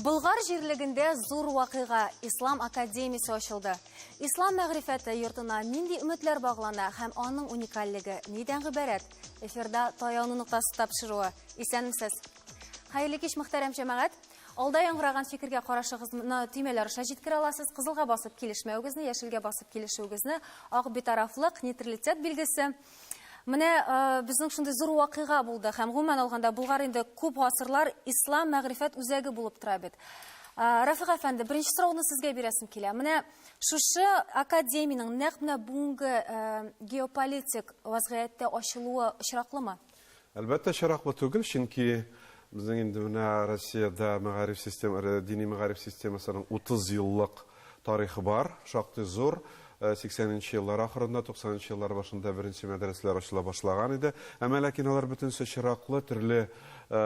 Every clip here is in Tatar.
Болгар җирлегендә зур вакыйга Ислам академиясе ачылды. Ислам мәгърифәте йортына нинди өметләр баглана һәм аның уникальлеге нидән гыйбарәт? Эфирда таяну ноктасы тапшыруы. Исәнмесез. Хәерле кич, мөхтәрәм җәмәгать. Алда яңгыраган фикергә карашыгызны төймәләр аша җиткерә аласыз. Кызылга басып килешмәвегезне, яшелгә басып килешүегезне, ак битарафлык, нейтралитет билгесе. Менә э, безнең шундый зур вакыйга булды һәм гомумән алганда Булгар инде күп гасырлар ислам мәгърифәт үзәге булып тора бит. Э, Рафик әфәнде, беренче сорауны сезгә бирәсем килә. Менә шушы академиянең нәкъ менә бүгенге э, геополитик вазгыятьтә ачылуы очраклымы? Әлбәттә чираклы түгел, чөнки безнең инде менә Россиядә мәгариф система, э, дини мәгариф системасының 30 еллык тарихы бар, шактый зур. 80 э, нче еллар ахырында, 90 нчы еллар башында беренче мәдрәсәләр ачыла башлаган иде. Әмма ләкин алар бөтенесе чираклы, төрле э,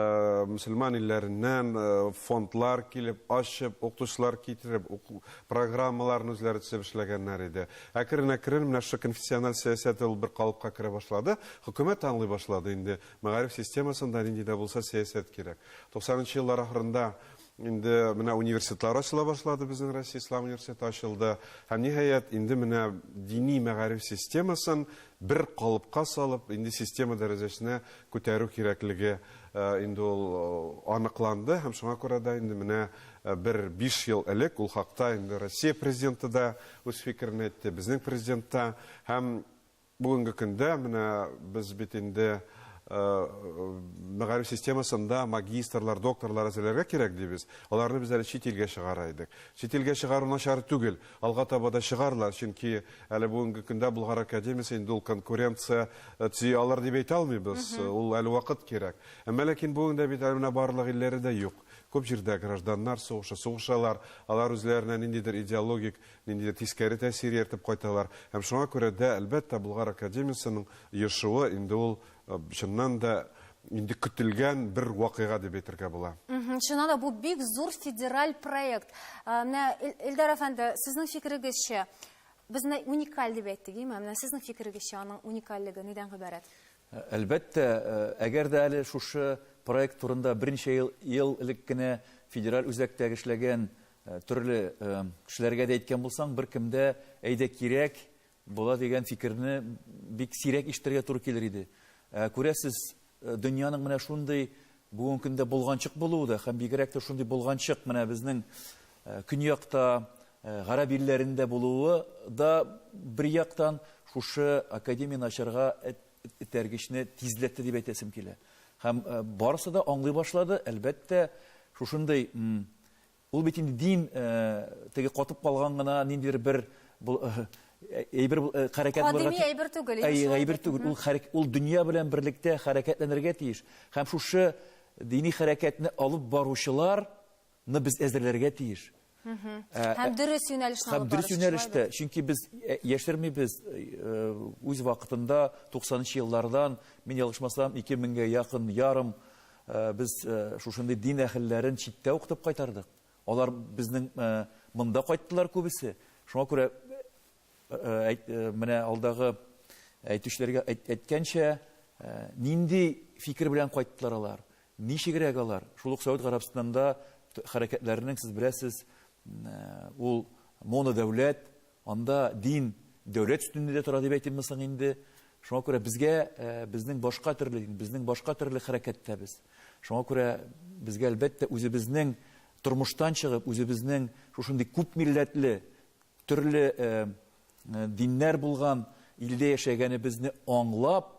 мөселман илләреннән э, фондлар килеп, ачып, укытучылар китереп, программаларын үзләре төзеп эшләгәннәр иде. Әкрен-әкрен менә шушы конфессиональ сәясәт дә ул бер калыпка керә башлады. Хөкүмәт аңлый башлады, инде мәгариф системасында нинди дә булса сәясәт кирәк. Туксанынчы еллар ахырында инде менә университетлар ачыла башлады, безнең Россия Ислам университеты ачылды. Һәм, ниһаять, инде менә дини мәгариф системасын бер калыпка салып, инде система дәрәҗәсенә күтәрү кирәклеге инде ул аныкланды. Һәм шуңа күрә дә инде менә бер биш ел элек ул хакта инде Россия Президенты да, үз фикерен әйтте безнең президент та һәм бүгенге көндә менә без бит инде мәгариф системасында магистрлар, докторлар әзерләргә кирәк дибез. Аларны без әле чит илгә чыгара идек. Чит илгә чыгару начар түгел. Алга таба да чыгарлар, чөнки әле бүгенге көндә Болгар академиясе инде ул конкуренция төзи алыр дип әйтә алмыйбыз. Ул әле вакыт кирәк. Әмма ләкин бүген дә бит әле менә барлык илләре дә юк. Күп җирдә гражданнар сугышы, сугышалар, алар үзләренә ниндидер идеологик, ниндидер тискәре тәэсир ияртеп кайталар. Һәм шуңа күрә дә, әлбәттә, Болгар академиясенең оешуы инде ул, чыннан да, инде көтелгән бер вакыйга дип әйтергә була. Чыннан да, бу бик зур федераль проект. Менә, Эльдар әфәнде, сезнең фикерегезчә, без менә уникаль дип әйттек, име? Менә сезнең фикерегезчә, аның уникальлеге нидән гыйбарәт? Әлбәттә, әгәр дә әле шушы проект турында берничә ел элек кенә федераль үзәктә эшләгән төрле кешеләргә дә әйткән булсаң, беркем дә, әйдә кирәк була дигән фикерне бик сирәк ишетергә туры килер иде. Ә күрәсез, дөньяның менә шундый бүгенге көндә болганчык булуы да һәм бигрәк тә шундый болганчык менә безнең көньякта, Гарәп илләрендә булуы да, бер яктан, шушы академияне ачарга этәргечне тизләтте дип әйтәсем килә. Һәм барысы да аңлый башлады, әлбәттә, шушындый, ул бит инде дин, теге катып калган гына ниндидер бер әйбер, хәрәкәт булырга тиеш. Кадими әйбер түгел. Әйе, әйбер түгел. Ул хәрәкәт, ул дөнья белән берлектә хәрәкәтләнергә тиеш. Һәм шушы дини хәрәкәтне алып баручылар, Ны без әзерләргә тиеш. Һәм дөрес юнәлешне алып барырга. Һәм дөрес юнәлештә, чөнки без яшермибез, үз вакытында 90 нчы еллардан, мин ялгышмасам, 2000 гә якын ярым без шушындый дин әһелләрен читтә укытып кайтардык. Алар безнең монда кайттылар күбесе. Шуңа күрә Менә алдагы әйтүчеләргә әйткәнчә, нинди фикер белән кайттылар алар, ничегрәк алар? Шул ук Сәүд Гарәбстанында хәрәкәтләрнең, сез беләсез, ул монодәүләт, анда дин дәүләт өстенлегендә тора дип әйтимме соң инде? Шуңа күрә безгә безнең башка төрле, безнең башка төрле хәрәкәттә без. Шуңа күрә безгә, әлбәттә, үзебезнең тормыштан чыгып, үзебезнең шушындый күп милләтле, Төрле диннәр булган илдә яшәгәнебезне аңлап,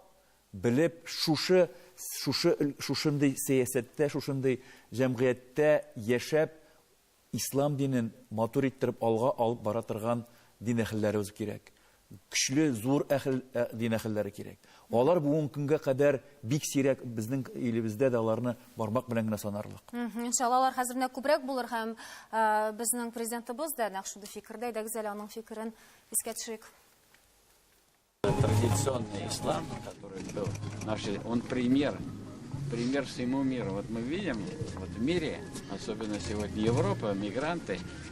белеп, шушы шушы шушындый сәясәттә, шушындый җәмгыятьтә яшәп, ислам динен матур иттереп алга алып бара торган дин әһелләребез кирәк. Көчле, зур әхел, ә, дин әхелләре кирәк. Алар бүгенге көнгә кадәр бик сирәк, безнең илебездә дә аларны бармак белән генә санарлык. Мгм, Иншалла, алар хәзер менә күбрәк булыр һәм ә, безнең президентыбыз да нәкъ шундый фикердә. Әйдәгез әле аның фикерен искә төшерик. Традиционный ислам, который был наши, он пример, пример всему миру. Вот мы видим, вот в мире, особенно сегодня Европа, мигранты,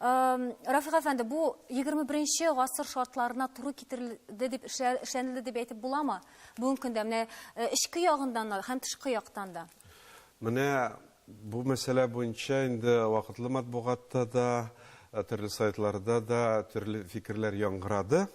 Рафик әфәнде, бу 21 нче гасыр шартларына туры китерелде дип эшләнелде дип әйтеп буламы? Бүгенге көндә менә э, эчке ягыннан да һәм тышкы яктан да. Менә бу мәсьәлә буенча инде вакытлы матбугатта да, э, төрле сайтларда да төрле фикерләр яңгырады.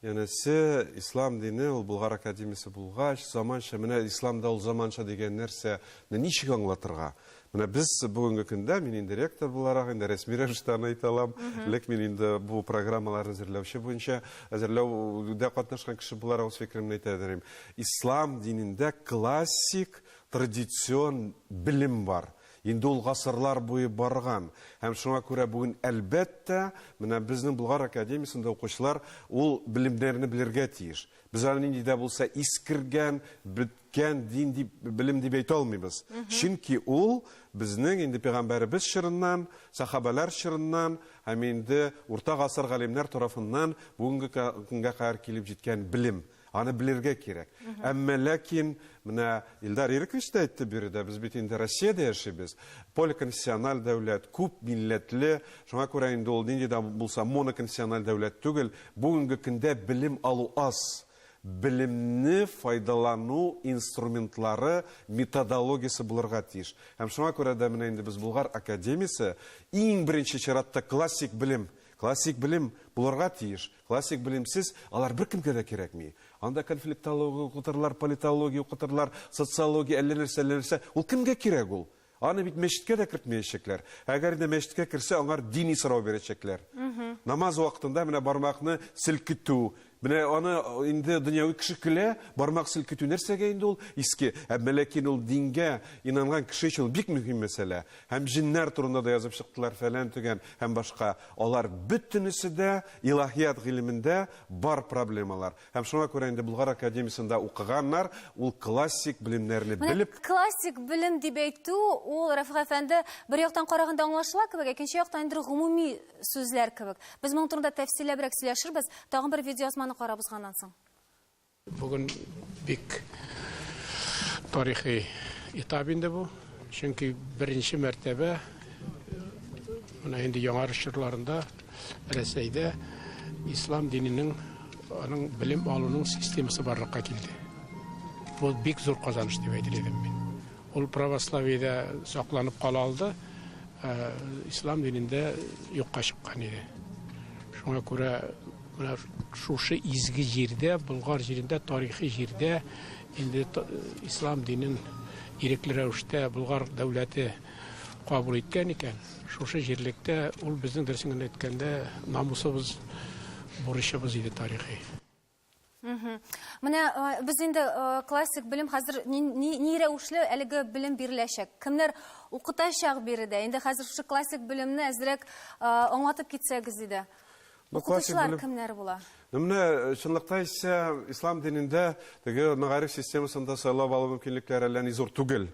Янәсе, ислам дине ул Болгар академиясе булгач, заманча, менә исламда ул заманча дигән нәрсә, менә ничек аңлатырга? Менә без бүгенге көндә мин инде ректор буларак инде рәсми рәвештә аны әйтә алам. Элек мин инде бу программаларны әзерләүче буенча әзерләүдә катнашкан кеше буларак үз фикеремне әйтә дим. Ислам динендә классик традицион белем бар. Инде ул гасырлар буе барган. Һәм шуңа күрә бүген, әлбәттә, менә безнең Болгар академиясендә укучылар ул белемнәрне белергә тиеш. Без аны нинди дә булса искергән, беткән дин дип, белем дип әйтә алмыйбыз. Чөнки ул безнең инде пәйгамбәребез чорыннан, сахабәләр чорыннан һәм инде урта гасыр галимнәр тарафыннан бүгенге көнгә кадәр килеп җиткән белем. Аны белергә кирәк. Әмма ләкин менә Илдар Ирекович та әйтте биредә, без бит инде Россиядә яшибез. Поликонфессиональ дәүләт, күп милләтле. Шуңа күрә инде ул нинди дә булса моноконфессиональ дәүләт түгел. Бүгенге көндә белем алу аз. Белемне файдалану инструментлары, методологиясе булырга тиеш. Һәм шуңа күрә дә менә инде без Болгар академиясе иң беренче чиратта классик белем, классик белем булырга тиеш. Классик белемсез алар беркемгә дә кирәкми. Анда конфликтология укытырлар, политология укытырлар, социология, әллә нәрсә, әллә нәрсә. Ул кемгә кирәк ул? Аны бит мәчеткә дә кертмәячәкләр. Әгәр дә мәчеткә керсә, аңар дини сорау бирәчәкләр. Намаз вакытында менә бармакны селкетү. Менә аны инде дөньяви кеше көлә, бармак селкетү нәрсәгә инде ул, иске. Ә ләкин ул дингә инанган кеше өчен ул бик мөһим мәсьәлә. Һәм җеннәр турында да язып чыктылар, фәлән-төгән һәм башка. Алар бөтенесе дә илаһият гыйлемендә бар проблемалар. Һәм шуңа күрә инде Болгар академиясендә укыганнар, ул классик белемнәрне Менә белеп, классик белем дип әйтү, ул, Рәфыйк әфәнде, бер яктан караганда аңлашыла кебек, ә икенче яктан инде гомуми сүзләр кебек. Без моның турында тәфсилләбрәк сөйләшербез, тагын бер видеоязманы карап узганнан соң. Бүген бик тарихи этап инде бу. Чөнки беренче мәртәбә менә инде яңа чорларында Рәсәйдә ислам диненең аның белем алуның системасы барлыкка килде. Бу бик зур казаныш дип әйтер идем мин. Ул православиедә сакланып кала алды, ә ислам динендә юкка чыккан иде. Шуңа күрә Менә шушы изге җирдә, Болгар җирендә, тарихи җирдә инде ислам динен ирекле рәвештә Болгар дәүләте кабул иткән икән, шушы җирлектә ул безнең дөресен генә әйткәндә намусыбыз, бурычыбыз иде тарихи. Менә без инде классик белем хәзер ни рәвешле әлеге белем биреләчәк? Кемнәр укытачак биредә? Инде хәзер шушы классик белемне әзрәк аңлатып китсәгез иде. Укытучылар кемнәр була? Менә чынлыкта исә ислам динендә теге мәгариф системасында сайлап алу мөмкинлекләре әллә ни зур түгел.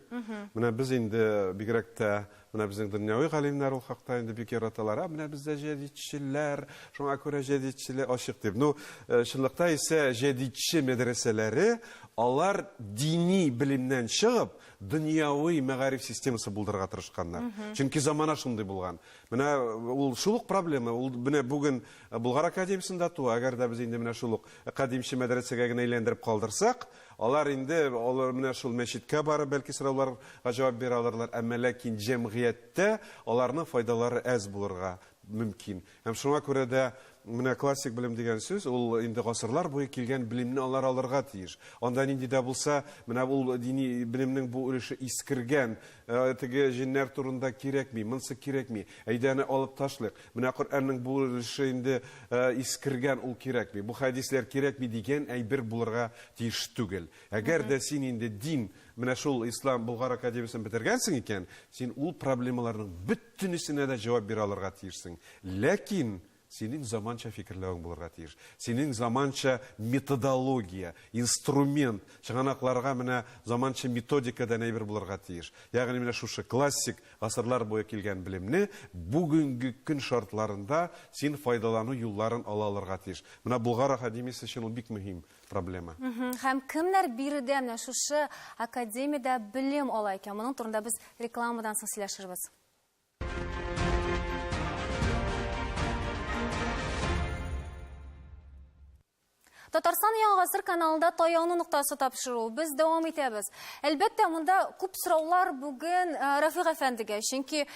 Менә без инде бигрәк тә Менә безнең дөньяви галимнәр ул хакта инде бик яраталар. А менә бездә җәдидчеләр, шуңа күрә җәдидчеле ачык дип. Ну, э, чынлыкта исә җәдидче мәдрәсәләре алар дини белемнән чыгып, дөньяви мәгариф системасы булдырырга тырышканнар. Чөнки замана шундый булган. Менә э, ул шул ук проблема. Ул менә бүген э, Болгар академиясендә туа, әгәр дә без инде менә шул ук кадимче мәдрәсәгә генә әйләндереп калдырсак, Алар инде, алар менә шул мәчеткә барып, бәлки сорауларга җавап бирә алырлар, әмма ләкин җәмгыятьтә аларның файдалары әз булырга мөмкин. Һәм шуңа күрә дә менә классик белем дигән сүз, ул инде гасырлар буе килгән белемне алар алырга тиеш. Анда нинди дә булса, менә ул дини белемнең бу өлеше искергән, теге җеннәр турында кирәкми, монсы кирәкми, әйдә аны алып ташлыйк. Менә Коръәннең бу өлеше инде искергән, ул кирәкми. Бу хәдисләр кирәкми дигән әйбер булырга тиеш түгел. Әгәр дә син инде дин, менә шул Ислам Болгар академиясен бетергәнсең икән, син ул проблемаларның бөтенесенә дә җавап бирә алырга тиешсең. Ләкин синең заманча фикерләвең булырга тиеш. Синең заманча методология, инструмент, чыганакларга менә заманча методика дән әйбер булырга тиеш. Ягъни менә шушы классик Гасырлар буе килгән белемне бүгенге көн шартларында син файдалану юлларын ала алырга тиеш. Менә Болгар академиясе өчен ул бик мөһим проблема. Һәм кемнәр биредә менә шушы академиядә белем ала икән? Моның турында без рекламадан соң сөйләшербез. Татарстан Яңа гасыр каналында таяну ноктасы тапшыру. Без дәвам итәбез. Әлбәттә, монда күп сораулар бүген э, Рафик әфәндегә, чөнки э,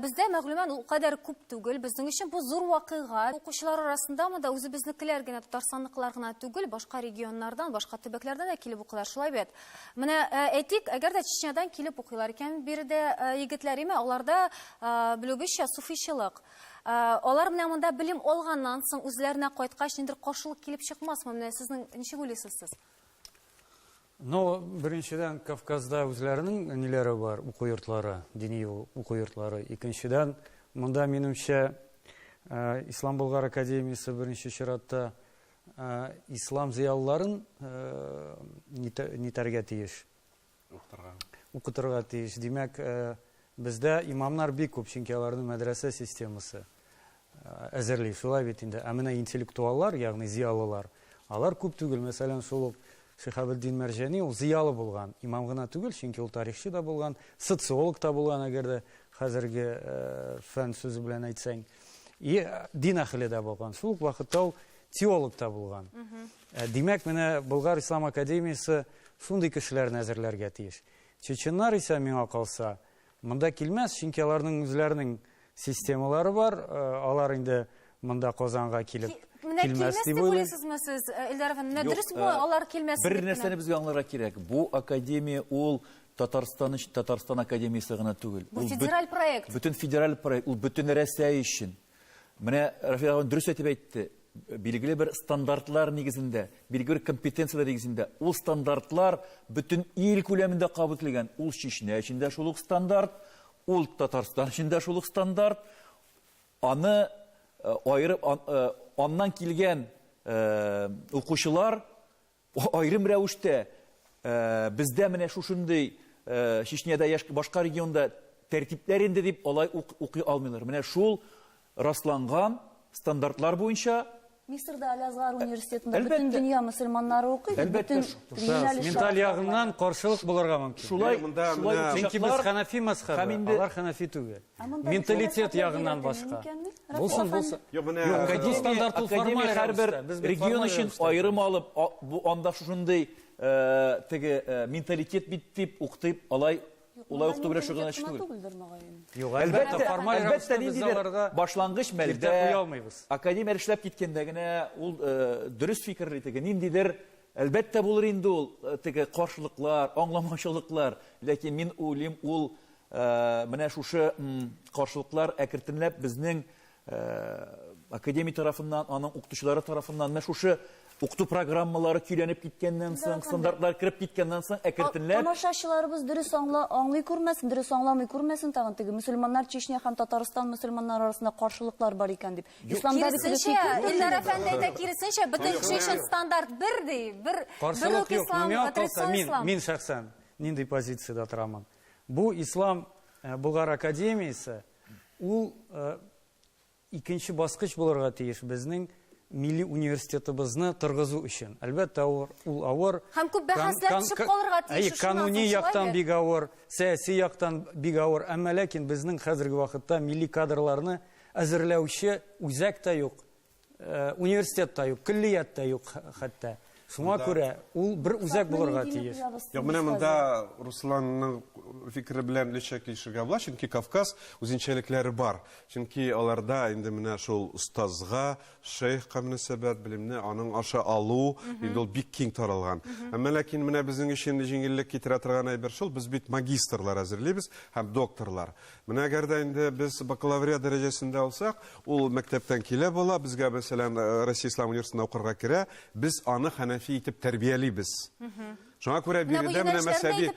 бездә мәгълүмат ул кадәр күп түгел. Безнең өчен бу зур вакыйга. Укучылар арасында монда үзебезнекеләр генә, татарстанлыклар гына түгел, башка регионнардан, башка төбәкләрдән дә килеп укыйлар. Шулай бит. Менә э, әйтик, әгәр дә Чечнядан килеп укыйлар икән, биредә егетләр, имә аларда белүебезчә суфичылык. Алар менә монда белем алганнан соң үзләренә кайткач ниндер каршылык килеп чыкмасмы? Менә сезнең ничек уйлыйсыз сез? Ну, беренчедән, Кавказда үзләренең ниләре бар, уку йортлары, дини уку йортлары. Икенчедән, монда, минемчә, Ислам Болгар академиясе беренче чиратта ислам зыялыларын нитәргә тиеш. Укытырга. Укытырга тиеш. Димәк, бездә имамнар бик күп, чөнки аларның мәдрәсә системасы әзерли. Шулай бит инде. Ә менә интеллектуаллар, ягъни зиялылар, алар күп түгел. Мәсәлән, шул ук Шихабетдин Мәрҗәни ул зиялы булган, имам гына түгел, чөнки ул тарихчы да булган, социолог та булган, әгәр дә хәзерге фән сүзе белән әйтсәң. И дин әхеле дә булган. Шул ук вакытта ул теолог та булган. Димәк, менә Болгар ислам академиясе шундый кешеләрне әзерләргә тиеш. Чеченнар исә, миңа калса, монда килмәс, чөнки аларның үзләренең системалары бар, алар инде монда Казанга килеп Менә килмәс дип уйлыйсызмы сез, э, Эльдар әфәнде? Менә дөресме э, алар килмәс? Бер нәрсәне безгә аңларга кирәк. Бу академия ул Татарстан өчен Татарстан академиясе гына түгел. Бу федераль проект. Бөтен федераль проект, ул бөтен Рәсәй өчен. Менә Рафил абый дөрес әйтеп әйтте. Билгеле бер стандартлар нигезендә, билгеле бер компетенцияләр нигезендә. Ул стандартлар бөтен ил күләмендә кабул ителгән. Ул Чечня өчен дә шул ук стандарт, ул Татарстан өчен дә шул ук стандарт. Аны э, аерып, э, аннан килгән э, укучылар Аерым рәвештә бездә менә шушындый Чечняда я башка регионда тәртипләр инде дип алай ук укый алмыйлар. Менә шул расланган стандартлар буенча Мисырда Алязгар университетында Әлбәттә. бөтен дөнья мөселманнары укый, Әлбәттә, бөтен шу- шу- юнәлеш Менталь шартлары. ягыннан каршылык булырга мөмкин. шулай Менә монда шулай менә- ук Чөнки без чаклар хәнәфи мәзхәбе, һәм инде- алар хәнәфи түгел. Менталитет ягыннан башка. Булсын, булсын. Юк, менә Гади стандарт ул Академия формаль һәрбер рәвештә. Без бит регион формаль өчен рәвештә. аерым алып, а- бу анда шушындый э, теге э, менталитет бит дип укытып, алай улай укыту белән шөгыльләнүче түгел. түгелдер, мөгаен. Юк, Әлбәттә, әлбәттә, формаль әлбәттә, рәвештә без ниндидер аларга башлангыч киртә мәлдә куя алмыйбыз. академия эшләп киткәндә генә ул э, дөрес фикерли теге, ниндидер Әлбәттә булыр инде ул э, теге каршылыклар, аңламаучылыклар, ләкин мин уйлыйм, ул Менә шушы каршылыклар әкертенләп безнең академия тарафыннан, аның укытучылары тарафыннан, менә шушы укыту программалары көйләнеп киткәннән соң, стандартлар кереп киткәннән соң әкертенләп... Тамашачыларыбыз дөрес аңла, аңлый күрмәсен, дөрес аңламый күрмәсен тагын теге мөселманнар Чечня һәм Татарстан мөселманнары арасында каршылыклар бар икән дип. Исламда бит дөрес икән. Киресенчә, Илдар әфәнде әйтә, киресенчә, бөтен кеше өчен стандарт бер ди, бер үк ислам, традицион ислам. Мин шәхсән нинди позициядә торамын? Бу Ислам э, Болгар академиясе ул э, икенче баскыч булырга тиеш безнең милли университетыбызны торгызу өчен. Әлбәттә, ул авыр. Һәм күп бәхәсләр төшеп калырга тиеш. Әй, кануни яктан бик авыр, сәяси яктан бик авыр, әмма ләкин безнең хәзерге вакытта милли кадрларны әзерләүче үзәк тә юк, Э, университет та юк, көллият та юк хәтта. Шуңа күрә ул бер үзәк булырга тиеш. Юк, менә монда Русланның фикере белән лечә килешергә була, чөнки Кавказ үзенчәлекләре бар. Чөнки аларда инде менә шул остазга, шейхка мөнәсәбәт, белемне аның аша алу, инде ул бик киң таралган. Әмма ләкин менә безнең өчен җиңеллек китерә торган әйбер шул, без бит магистрлар әзерлибез һәм докторлар. Менә әгәр дә инде без бакалавриат дәрәҗәсендә алсак, ул мәктәптән килә бала, безгә, мәсәлән, э, Россия Ислам университетына укырга керә, без аны хәнәфи итеп тәрбиялибез. Шуңа күрә биредә менә мәсәби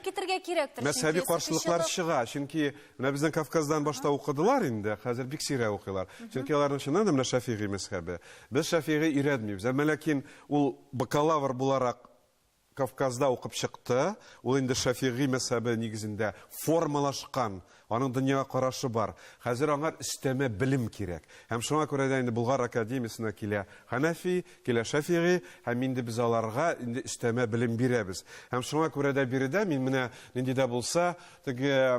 мәсәби каршылыклар чыга. Чөнки менә безнең Кавказдан башта укыдылар инде, хәзер бик сирәк укыйлар. Чөнки аларның чыннан да менә Шәфигый мәзхәбе. Без Шәфигый өйрәтмибез. Әмма ләкин ул бакалавр буларак Кавказда укып чыкты. Ул инде Шәфигый мәзһәбе нигезендә формалашкан, аның дөньяга карашы бар. Хәзер аңар өстәмә белем кирәк. Һәм шуңа күрә дә инде Болгар академиясенә килә Хәнәфи, килә Шәфигый, һәм инде без аларга инде өстәмә белем бирәбез. Һәм шуңа күрә дә биредә мин менә нинди дә булса, теге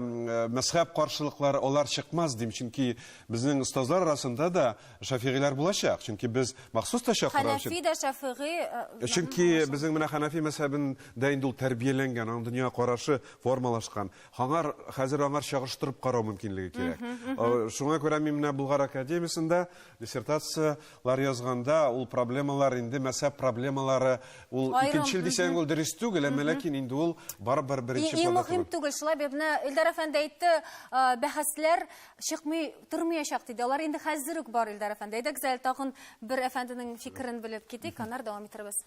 мәзһәб каршылыклары алар чыкмас дим, чөнки безнең остазлар арасында да Шәфигыйләр булачак, чөнки без махсус та чакырабыз. Хәнәфи дә, Шәфигый. Э, чөнки безнең менә Хәнәфи мәсәбендә инде ул тәрбияләнгән, аның дөнья карашы формалашкан. Аңар хәзер аңар чагыштырып карау мөмкинлеге кирәк. Э, шуңа күрә мин менә Булгар академиясендә диссертацияләр язганда ул проблемалар инде мәсәп проблемалары ул икенче ел дисәң ул дөрес түгел, әмма ләкин инде ул барыбер беренче планда. Иң мөһим түгел. Шулай бит менә Илдар әфәнде әйтте, э, бәхәсләр чыкмый тормыячак диде. Алар инде хәзер үк бар, Илдар әфәнде. Әйдәгез әле тагын бер әфәнденең фикерен белеп китик, аннары дәвам итәрбез.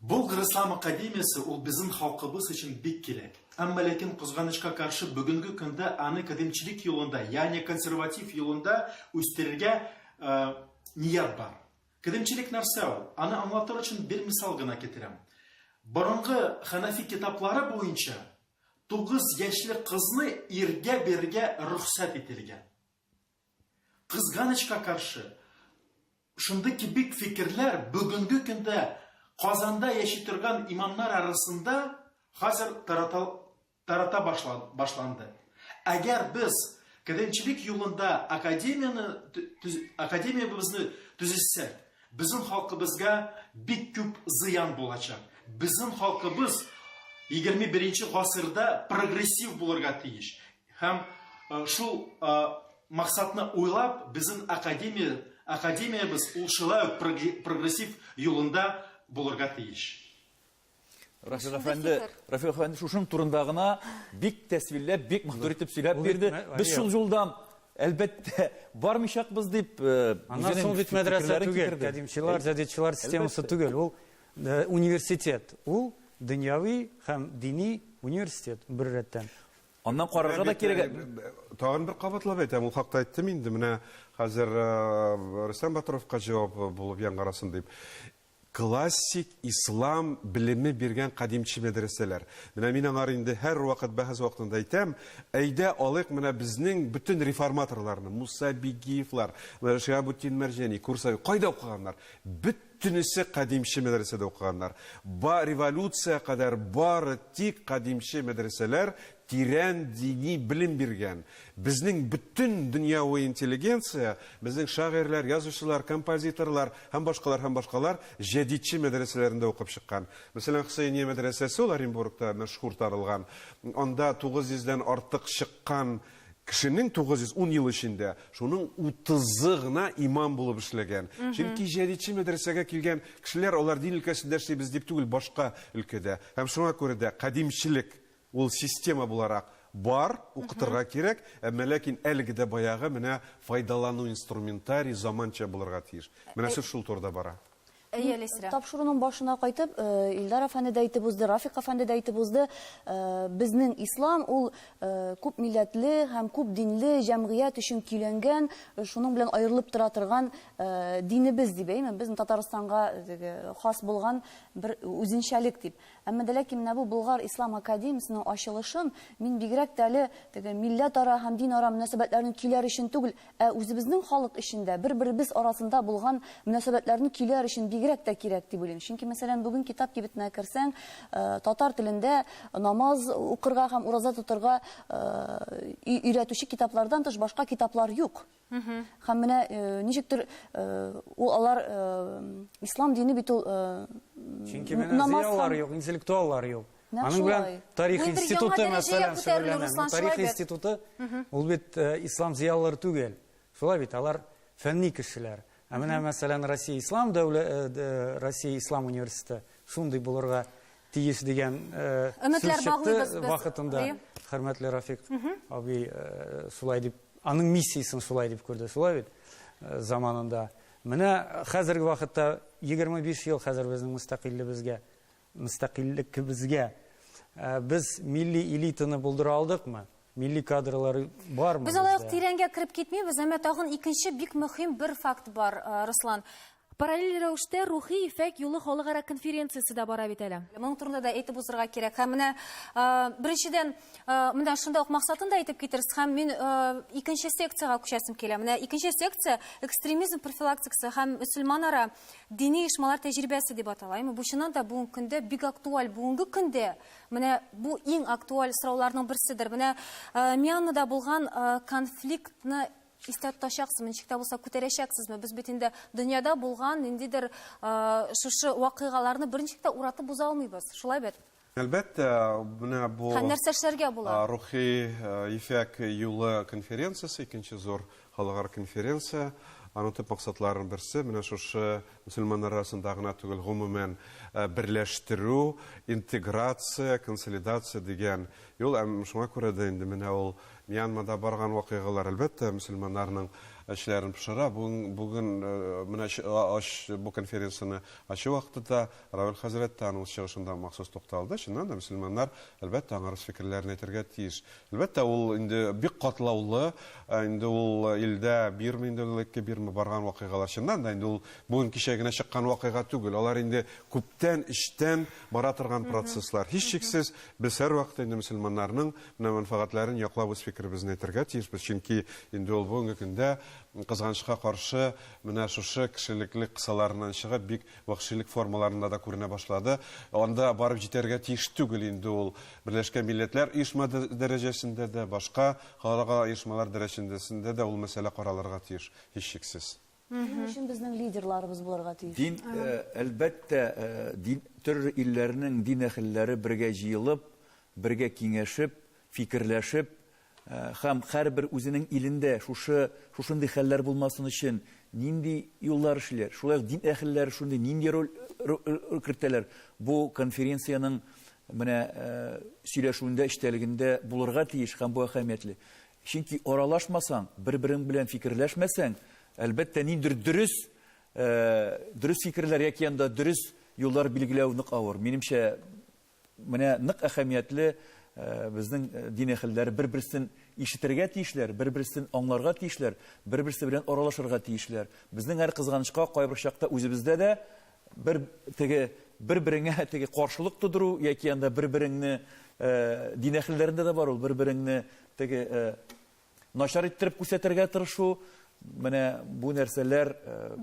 Болгар ислам академиясе ул безнең халкыбыз өчен бик кирәк. Әмма ләкин кызганычка каршы бүгенге көндә аны кадимчелек юлында, ягъни консерватив юлында үстерергә ният бар. Кадимчелек нәрсә ул? Аны аңлатыр өчен бер мисал гына китерәм. Борынгы хәнәфи китаплары буенча Тугыз яшьлек кызны иргә бирергә рөхсәт ителгән. Кызганычка каршы, шундый кебек фикерләр бүгенге көндә Казанда яши торган имамнар арасында хәзер тарата, тарата башла, башланды. Әгәр без кадәмчелек юлында академияне, академиябезне төзесәк, Безнең халкыбызга бик күп зыян булачак. Безнең халкыбыз егерме беренче гасырда прогрессив булырга тиеш. Һәм шул максатны уйлап, безнең академия, академиябез ул шулай ук прогрессив юлында булырга тиеш. Рафик әфәнде, Рафик әфәнде шушың турында гына бик тәсвилләп, бик матур итеп сөйләп бирде. Без шул юлдан әлбәттә бармыйчакбыз дип э, аннан соң бит мәдрәсә түгел кадимчылар җәдидчылар системасы түгел ул э, университет ул дөньяви һәм дини университет бер рәттән аннан карарга да кирәк э, тагын бер кабатлап әйтәм ул хакта әйттем инде менә хәзер рөстәм батыровка җавап булып яңгырасын дип Классик ислам белеме биргән кадимче мәдрәсәләр. Менә мин аңар инде һәрвакыт бәхәс вакытында әйтәм, әйдә алыйк менә безнең бөтен реформаторларны, Муса Бигиевлар, менә Шиһабутдин Мәрҗани, Курсави, кайда укыганнар? Бөтенесе кадимче мәдрәсәдә укыганнар. Ба, революция кадәр бары тик кадимче мәдрәсәләр Тирән дини белем биргән, безнең бөтен дөньяви интеллигенция, безнең шагыйрьләр, язучылар, композиторлар һәм башкалар һәм башкалар җәдитче мәдрәсәләрендә укып чыккан. Мәсәлән, Хөсәения мәдрәсәсе ул Оренбургта мәшһүр таралган. Анда 900 дән артык чыккан кешенең 910 ел эчендә шуның 30-ы гына имам булып эшләгән. Чөнки җәдитче мәдрәсәгә килгән кешеләр алар дин өлкәсендә эшлибез дип түгел, башка өлкәдә. Һәм шуңа күрә дә кадимчелек Ул система буларак бар, укытырга кирәк, әмма ләкин әлеге дә баягы менә файдалану инструментарий заманча булырга тиеш. Менә сүз шул турыда бара. Әйе, Әлисрә. Тапшыруның башына кайтып, Илдар әфәнде дә әйтеп узды, Рафик әфәнде дә әйтеп узды, безнең ислам ул күп милләтле һәм күп динле җәмгыять өчен көйләнгән, шуның белән аерылып тора торган динебез дип, әйеме, безнең Татарстанга теге хас булган бер үзенчәлек дип. Әмма дә ләкин менә бу Болгар ислам академиясенең ачылышын мин бигрәк тә әле теге милләтара һәм динара мөнәсәбәтләрнең көйләр өчен түгел, ә үзебезнең халык өчен дә, бер-беребез арасында булган мөнәсәбәтләрнең көйләр өчен бигрәк тә кирәк дип уйлыйм. Чөнки, мәсәлән, бүген китап кибетенә керсәң, татар телендә намаз укырга һәм ураза тотырга өйрәтүче китаплардан тыш башка китаплар юк. Һәм менә э, ничектер э, ул алар э, ислам дине бит ул Чөнки менә намаз зыялар юк, интеллектуаллар юк. Аның белән тарих институты мәсәлән шөгыльләнә. Тарих институты ул бит ислам зыялылары түгел. Шулай бит, алар фәнни кешеләр. Ә менә мәсәлән Россия ислам дәүләте, Россия ислам университеты шундый булырга тиеш дигән сүз чыкты вакытында. Хөрмәтле Рафик абый шулай дип, аның миссиясен шулай дип күрде, шулай бит? Заманында. Менә хәзерге вакытта 25 ел хәзер безнең мөстәкыйлебезгә, мөстәкыйллекебезгә без милли элитаны булдыра алдыкмы? Милли кадрлар бармы? Без алай ук тирәнгә кереп китмибез, әмма тагын икенче бик мөһим бер факт бар, Руслан. Параллель рәвештә Рухи ефәк юлы халыкара конференциясе дә бара бит әле. Моның турында да әйтеп узырга кирәк. Һәм менә беренчедән, менә шунда ук максатын да әйтеп китерсез. Һәм мин икенче секциягә күчәсем килә. Менә икенче секция экстремизм профилактикасы һәм мөселманара дини оешмалар тәҗрибәсе дип атала. Әмма бу чыннан да бүгенге көндә бик актуаль. Бүгенге көндә менә бу иң актуаль сорауларның берседер. Менә Мьянмада булган конфликтны Истә тотачаксызмы, ничек тә булса күтәрәчәксезме? Без бит инде дөньяда булган ниндидер шушы вакыйгаларны берничек тә уратып боза алмыйбыз. Шулай бит? Әлбәттә, менә бу Һәм нәрсә эшләргә була? Рухи ефәк юлы конференциясе, икенче зур халыкара конференция. Аның төп максатларының берсе менә шушы мөселманнар арасында гына түгел, гомумән берләштерү, интеграция, консолидация дигән юл. Һәм шуңа күрә дә инде менә ул Мьянмада барган вакыйгалар, әлбәттә, мөселманнарның эчләрен пошыра. Бүген, бүген менә ач, бу конференцияне ачу вакытында Равил хәзрәт тә аның чыгышында махсус тукталды. Чыннан да, мөселманнар, әлбәттә, аңар үз фикерләрен әйтергә тиеш. Әлбәттә, ул инде бик катлаулы, инде ул илдә бирме, инде элекке бирме барган вакыйгалар. Чыннан да, инде ул бүген-кичә генә чыккан вакыйга түгел. Алар инде күптән, эчтән бара торган процесслар. Һичшиксез, без һәрвакыт инде мөселманнарның на мәнфәгатьләрен яклап үз фикеребезне әйтергә тиешбез, чөнки инде ул бүгенге көндә, кызганычка каршы, менә шушы кешелекле кысаларыннан чыгып, бик вәхшилек формаларында да күренә башлады. Анда барып җитәргә тиеш түгел инде ул Берләшкән Милләтләр оешма дәрәҗәсендә дә, башка халыкара оешмалар дәрәҗәсендә дә ул мәсьәлә каралырга тиеш, һичшиксез. Шуның өчен безнең лидерларыбыз булырга тиеш. Дин, әлбәттә, дин төрле илләрнең дин әһелләре бергә җыелып, бергә киңәшеп, фикерләшеп һәм һәрбер үзенең илендә шушы шушындый хәлләр булмасын өчен нинди юллар эшлиләр, шулай ук дин әһелләре шундый нинди роль роль кертәләр, бу конференциянең менә сөйләшүендә, эчтәлегендә булырга тиеш һәм бу әһәмиятле. Чөнки аралашмасаң, бер-берең белән фикерләшмәсәң, әлбәттә, ниндидер дөрес, дөрес фикерләр яки анда дөрес юллар билгеләү нык авыр. Минемчә, менә нык әһәмиятле безнең дин әһелләре бер-берсен ишетергә тиешләр, бер-берсен аңларга тиешләр, бер-берсе белән аралашырга тиешләр. Безнең әле кызганычка кайбер чакта үзебездә дә Бер теге бер-береңә теге каршылык тудыру яки анда бер-береңне дин әһелләрендә дә бар ул бер-береңне теге начар иттереп күрсәтергә тырышу менә бу нәрсәләр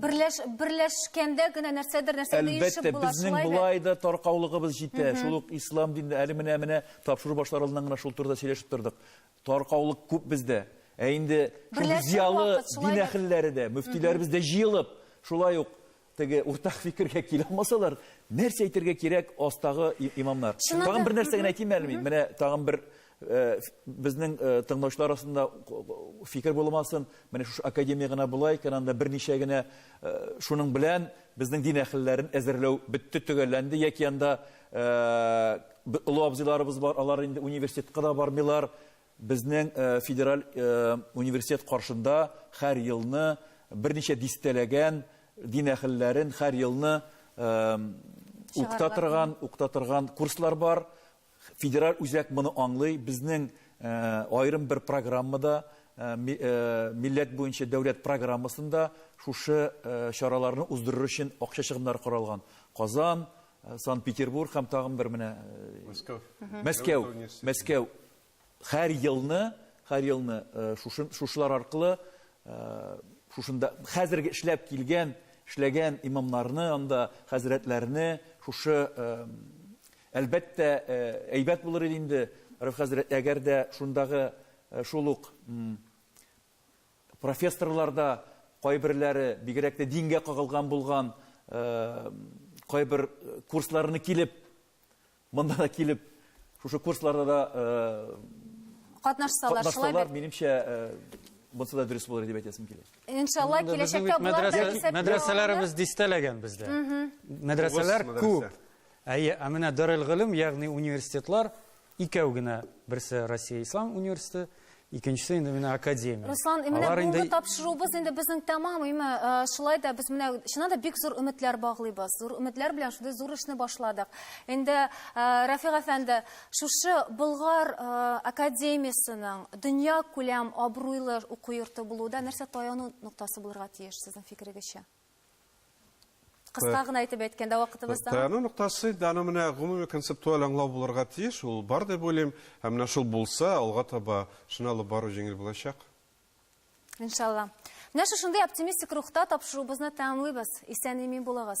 берләш берләшкәндә генә нәрсәдер нәрсә ирешеп була шулай безнең болай да таркаулыгыбыз җитә шул ук ислам динендә әле менә менә тапшыру башлар алдыннан гына шул турыда сөйләшеп тордык таркаулык күп бездә ә инде зиялы дин әһелләре дә мөфтиләребез дә җыелып шулай ук теге уртак фикергә килә алмасалар, нәрсә әйтергә кирәк астагы имамнар? Тагын бер нәрсә генә әйтим әле мин. Менә тагын бер э, безнең э, тыңлаучылар арасында фикер булмасын. Менә шушы академия гына була икән, анда берничә генә э, шуның белән безнең дин әһелләрен әзерләү бетте төгәлләнде яки анда олы абзыйларыбыз бар, алар инде университетка да бармыйлар. Безнең федераль университет каршында хәр елны берничә дистәләгән дин әхелләрен хәр елны укта торган, укта торган курслар бар. Федераль үзәк моны аңлый. Безнең аерым бер программада, милләт буенча дәүләт программасында шушы чараларны уздырыр өчен акча чыгымнары каралган. Казан, Санкт-Петербург һәм тагын бер менә Мәскәү. Мәскәү. Мәскәү. Хәр елны, хәр елны шушы, шушылар аркылы шушында хәзерге эшләп килгән, эшләгән имамнарны, анда хәзрәтләрне шушы әлбәттә әйбәт булыр иде инде, Рәф хәзрәт, әгәр дә шундагы шул ук профессорлар да кайберләре бигрәк тә дингә кагылган булган кайбер курсларны килеп Монда да килеп, шушы курсларда да катнашсалар, шулай бит. Минемчә, Монсы да дөрес булыр дип әйтәсем килә. Иншалла, киләчәктә болар да исәп Мәдрәсәләребез дистәләгән бездә. Мәдрәсәләр күп. Әйе, ә менә Дарел Гылым, ягъни университетлар икәү генә, берсе Россия Ислам университеты, Икенчесе инде менә академия. Руслан, менә Алар инде... тапшыруыбыз инде безнең тәмам, име, э, шулай да без менә чыннан да бик зур өметләр баглыйбыз. Зур өметләр белән шундый зур эшне башладык. Инде э, Рафик әфәнде, шушы Болгар э, академиясенең дөнья күләм абруйлы уку йорты булуда нәрсә таяну ноктасы булырга тиеш сезнең фикерегезчә? Кыска гына итеп әйткәндә вакытыбызда. Тану ноктасы инде аны менә гомуми концептуаль аңлау булырга тиеш, ул бар дип уйлыйм. Һәм менә шул булса, алга таба шуны алып бару җиңел булачак. Иншалла. Менә шушындый оптимистик рухта тапшыруыбызны тәмамлыйбыз. Исән-имин булыгыз.